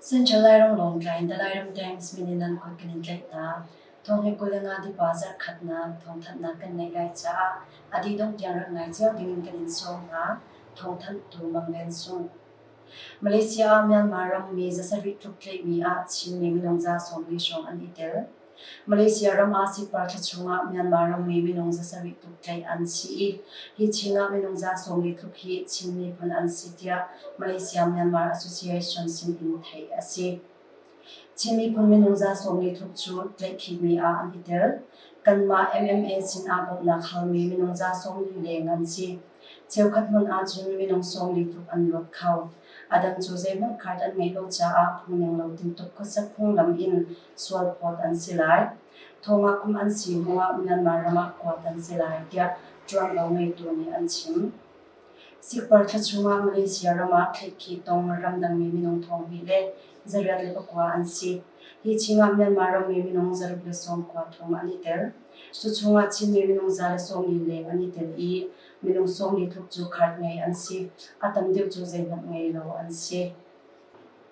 Central Lairam lawng tlain Dalairam Times min in an kulh kan in tlaih ta. Thong hi kul le nga tipa zarh khatnak thong thannak kan neih lai caah a dih dongh tiang rak ngai cio ding in kan in sawm hna. Thong thanh tu mang ven sung. Malaysia ah Myanmar rammi zasarih tluk tleihmi ah Chinmi minung za sawmli hrawng an i tel. Malaysia ram ah sipparṭha chungah Myanmar rammi minung zasarih tluk tleih an si i hi Chinah minung za sawmli tluk hi Chin miphun an si tiah Malaysia Myanmar Association sin in theih a si. Chin miphun minung za sawm li thuk cu tlaihkhitmi ah an i tel. Kanmah MMA sinah bawmhnak halmi minung za sawm li leng an si. Cheukhat hmun ahcun minung sawm li tluk an luat kho. A dang cu zeihmanh card an ngeih lo caah phungning lo tintuk khuasak phunglam in sual phawt an si lai. Thongah kum an si hnuah Myanmar ram ah kuat an si lai tiah ṭuanvo ngeitu nih an chim. Sikparthla chungah Malaysia ram ah thleikhi tong ramdangmi minung thawngmi le zarriat le pakua an si. Hi chingah Myanmar rammi minung zaruk le sawm kua thong an i tel. Cu chungah Chinmi minung za le sawm li leng an i tel i minung sawm li tluk cu khat ngei an si. A tam deuh cu zeihmanh ngei lo an si.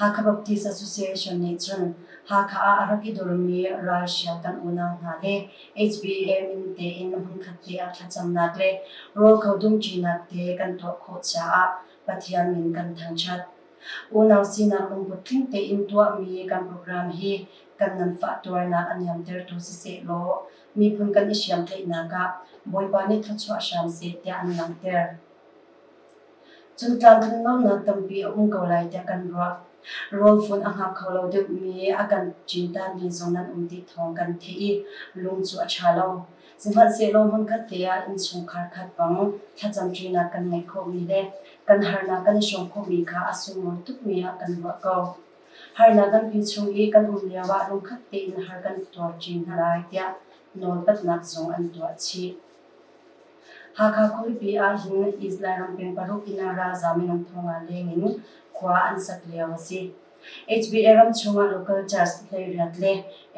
Hakha Baptist Association nih cun Hakha ah a rak i durmi ralhrial kan unau hna le HBM in tein hmunkhat te ah thlacamnak le rawl kho dumṭinak te kan tuah khawh caah Pathian min kan thangṭhat. Unau sinak lungput tling tein tuahmi kan program hi kan nganfahtuarnak a niamtertu siseh law miphun kan i hriamtlaihnak ah Bawipa nih thluachuah hram seh tiah an langhter. Cun tlamtlin lonak tampi a um ko lai tiah kan ruah. Rawl fun a hngak kho lo deuhmi, a kan cintaanmi zong nan um ti thawng kan theih i lung cu a ṭha lo. Sihmanhsehlaw hmunkhat te ah innchungkhar khat bang thlacamṭinak kan ngei khawhmi le kan harnak kan i hrawm khawhmi kha a sunglawi tukmi ah kan ruah ko. Harnak nganpi chung i kan um lioah lungkhat tein har kan tuar chin hna lai tiah nawlpatnak zong an tuah chih. Hakha khualipi ahhin Israel ram peng paruk in ralzaam in an thong ah leng in khua an sak lio a si. HBA ram chungah local church hleiriat le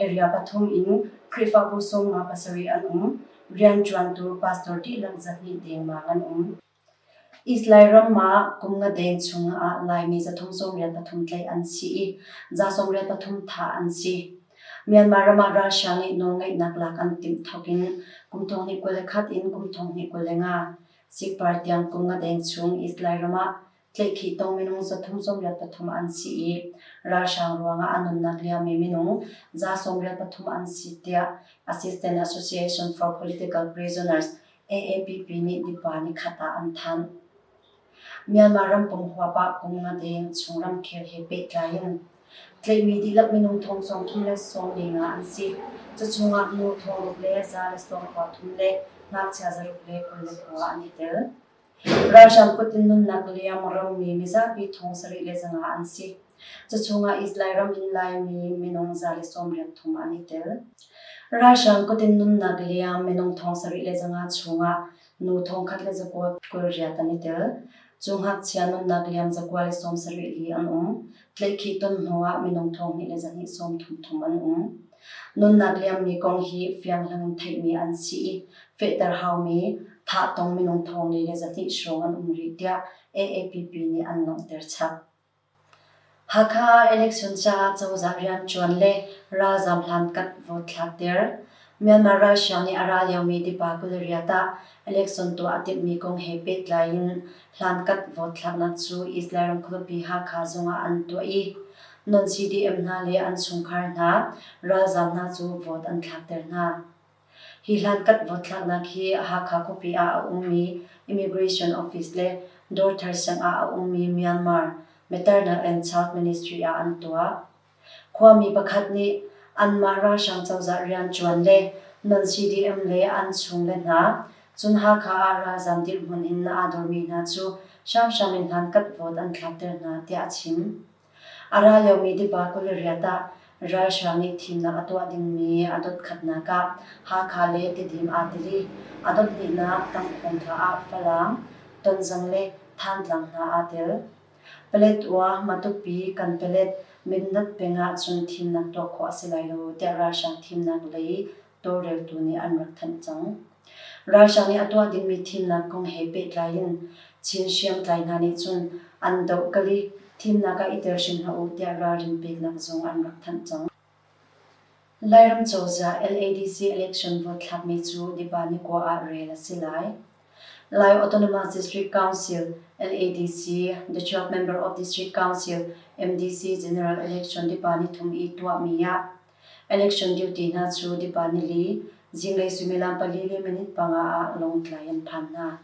area pathum in Khrihfabu sung nga pasarih an um. Rian ṭuantu pastor dihlak zat nih dengmang an um. Israel ram ah kum nga deng chung ah Laimi za thum sawmriat pathum tlaih an si i za sawmriat pathum thah an si. Myanmar ram ah Russia ngeih nawlngeihnak lak an timh thawk in kum thong hnih kul le khat in kum thong hnih kul le nga Sikh party tiang kum nga deng chung Israel ram ah tlaihkhih tong minung za thum sawmriat pathum an si i ralhrang ruang ah a nunnak liammi minung za sawmriat pathum an si tiah Assistant Association for Political Prisoners AAPP nih nupa nikhat ah an thanh. Myanmar rampung huapah kum nga deng chung ramkhel he pehtlai in tlaihmi dihlak minung thong sawm thum le sawm li nga an si. Cuchungah nu thong ruk le za le sawm khua thum le ngakchia zaruk le kul le khua an i tel. Ralhrang kut in nunnak liam a romi mizapi thong sarih le zanga an si. Cuchungah Israel ram in Laimi minung za le sawmriat thong an i tel. Ralhrang kut in nunnak liam minung thong sarih le zanga chungah nu thong khat le zakuat kul riat an i tel. Cu ngakchia nunnak liam zakuat le sawm sarih li an um. Tlaihkhih ton hnuah minung thonghnih le zarhnih sawmthum thum an um. Nunnak liammi kong hi fianghlang in theihmi an si i fehter haumi thahtong minung thonghnih le zarhnih hrawng an um rih tiah AAPP nih an langhter chap. Hakha election caah cozah rianṭuan le ralzam hlankat vote thlakter. Myanmar ralhriang nih a ra liomi Tipa kul riat ah election tuah a timhmi kong he pehtlai in hlankat vote thlaknak cu Israel ram khuapi Hakha zung ah an tuah i non-CDM hna le an chungkhar hna ralzam hna cu vote an thlakter hna. Hi hlankat vote thlaknak hi Hakha khuapi ah a ummi Immigration Office le Dorthar siangah a ummi Myanmar, Maternal and Child Ministry ah an tuah. Khuami pakhat nih anmah ralhrang cozah rian ṭuan le non-CDM le an chungle hna, cun Hakha ah ralzaam dirhmun in na aa dormi hna cu hramhram in hmankhat vote an thlakter hna, tiah a chim. A ra liomi tiva kul riat ah ralhrang nih thimnak a tuah dingmi a dotkhatnak ah Hakha le Tedim aa tel i a dohhnihnak tangphung hna ah Falam, Tonzang le Thantlang hna aa tel. Paletwa, Matupi, Kanpelet, Mindat peng ahcun thimnak tuah khawh a si lai lo tiah ralhrang thimnak lei tawlreltu nih an rak thanh cang. Ralhrang nih a tuah dingmi thimnak kong he pehtlai in Chin hriamtlai hna nih cun an doh kal i thimnak ah i tel hrim hlah u tiah ralrin peknak zong an rak thanh cang. Lairam cozah LADC election vote thlakmi cu Dipa-Nikua ah rel a si lai. Lai Autonomous District Council LADC, the 12th Member of District Council MDC General Election Dipa-Nithum i tuahmi ah election duty hna cu Dipa-Nili zinglei suimilam pali le minute panga ah lawngtlai an phan hna.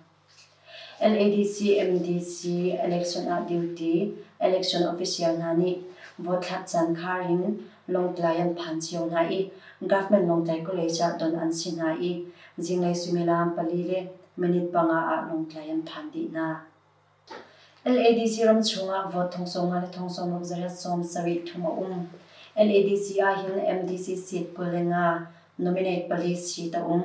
NADC, MDC election ah duty election official hna nih vote thlak caan khar in Lawngtlai an phan cio hna i government Lawngtlai College ah don an si hna i zinglei suimilam pali le minute panga ah Lawngtlai an phan dih hna. NADC ram chungah vote thongsawma le thongsawmruk zarep sawm sarih thum a um. NADC ahhin MDC seat pul le nga nominate pali seat a um.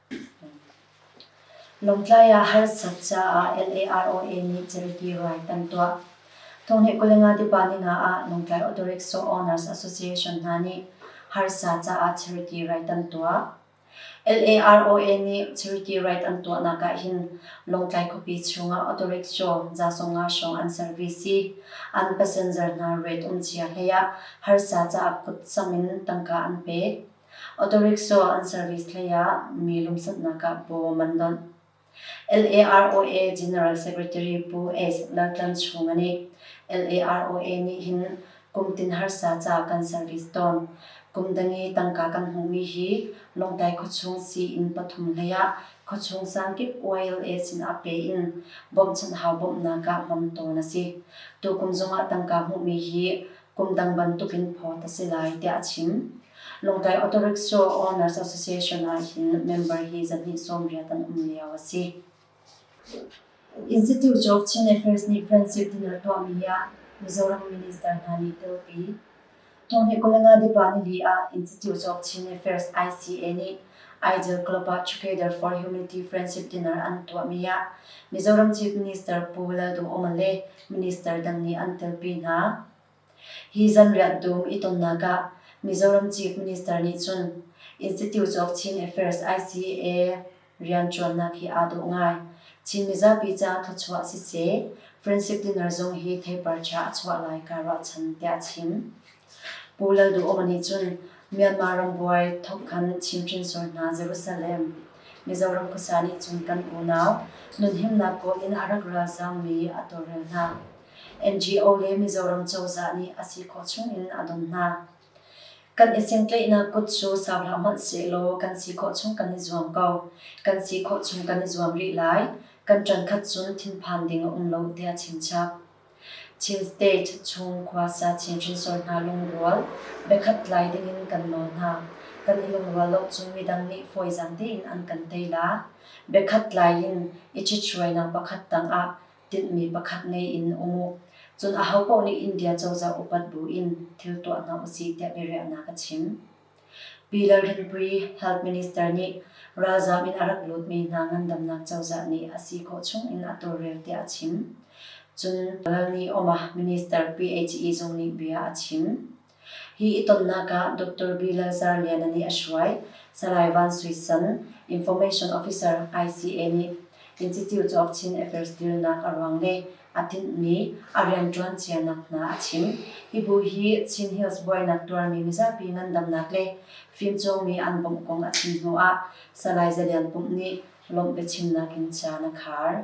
Lawngtlai ah harsat caah LARO nih charity ruai kan tuah. Tuahni Kulenga Department ah Lawngtlai Auto-Rickshaw Owners Association hna nih harsa caah charity rai kan tuah. LARO nih charity rait an tuahnak ah hin Lawngtlai khuapi chungah auto-rickshaw zasonga hrawng an service i an passenger hna rate um cia hlei ah harsa caah phutcham in tangka an pek. Autorickshaw an service hleiah mi lumsannak ah bawm an donh. LAROA General Secretary Pu Asif Laltlang chung a nih LAROA nih hin kum tin harsa ca kan service tawn. Kum dangi tangka kan hmuhmi hi Lawngtlai khuachung sii-inn pathum hleiah khuachung sangkip YLA sinah pe in bawmhchanh hau bawmhnak ah hmang tawn a si. Tukum zongah tangka hmuhmi hi kum dang bantukin phawt a si lai tiah a chim. Lawngtlai Authorities cu Owners Association ah hin member hi zarhhnih sawmriat an um lio a si. Institute of Chin Affairs nih friendship din a tuahmi ah Mizoram Minister hna nih telpi. Tuni kulenga dipa nili ah Institute of Chin Affairs ICA nih Ideal Club ah Together for Humanity Friendship Dinner an tuahmi ah Mizoram Chief Minister Pu Lalduhoma le minister dang nih an telpi hna. Hi zanriah dum i tonnak ah Mizoram Chief Minister nih cun Institute of Chin Affairs ICA rianṭuannak hi aa dawh ngai. Chin mizapi caah thluachuah siseh, Friendship Dinner zong hi theipar ṭha a chuah lai kaa ruahchan, tiah a chim. Pu Lalduhoma nih cun Myanmar rambuai thawk khan chimhhrin sual hna Jerusalem, Mizoram khuasa nih cun kan unau nunhimnak kawl in a rak ralzammi a tawlrel hna. NGO le Mizoram cozah nih a si khawh chungin a dawm hna. Kan i sentlaihnak kut cu sau hlah hmanh sehlaw kan si khawh chung kan i zuam ko. Kan si khawh chung kan i zuam rih lai. Kan ṭan khat cun thinphan ding a um lo tiah a chimchap. Chin State chung khuasa Chin hrinsor hna lungrual, biakhat lai dingin kan nawl hna. Kan i lungrual lo cu midang nih fawizang tein an kan tei la. Biakhat lai in i ṭhithruainak pakhat tangah tinhmi pakhat ngei in um u. Cun aho paoh nih India cozah upat buin thil tuah hna u sih tiah biariahnak a chim. Pi Lalrinpuii, Health Minister, nih ralzaam in a rak lutmi hna ngandamnak cozah nih a si khawh chungin a tawlrel tiah a chim. Cun Lalni Oma, Minister PHE zung nih bia a chim. Hi i tonnak ah Doctor B. Lalzar Liana nih a hruai, Salai Van Sui San, Information Officer, ICA nih Institute of Chin Affairs dilnak a ruang le a tinh nih a rianṭuan cianak hna a chim. Hi bu hi Chin Hills buainak tuarmi mizapi ngandamnak le fimcawnmi an bawmh kong a chim hnu ah Salai Za Lian Pumh nih lawmh biachimnak in ca na khar.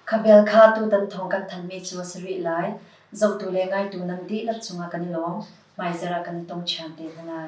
Khabel kha tutan thawng kan thanmi cu a si rih lai. Zotu le ngaitu nan dihlak cungah kan i lawm. Hmaizarh ah kan i tong ṭhiam te hna lai.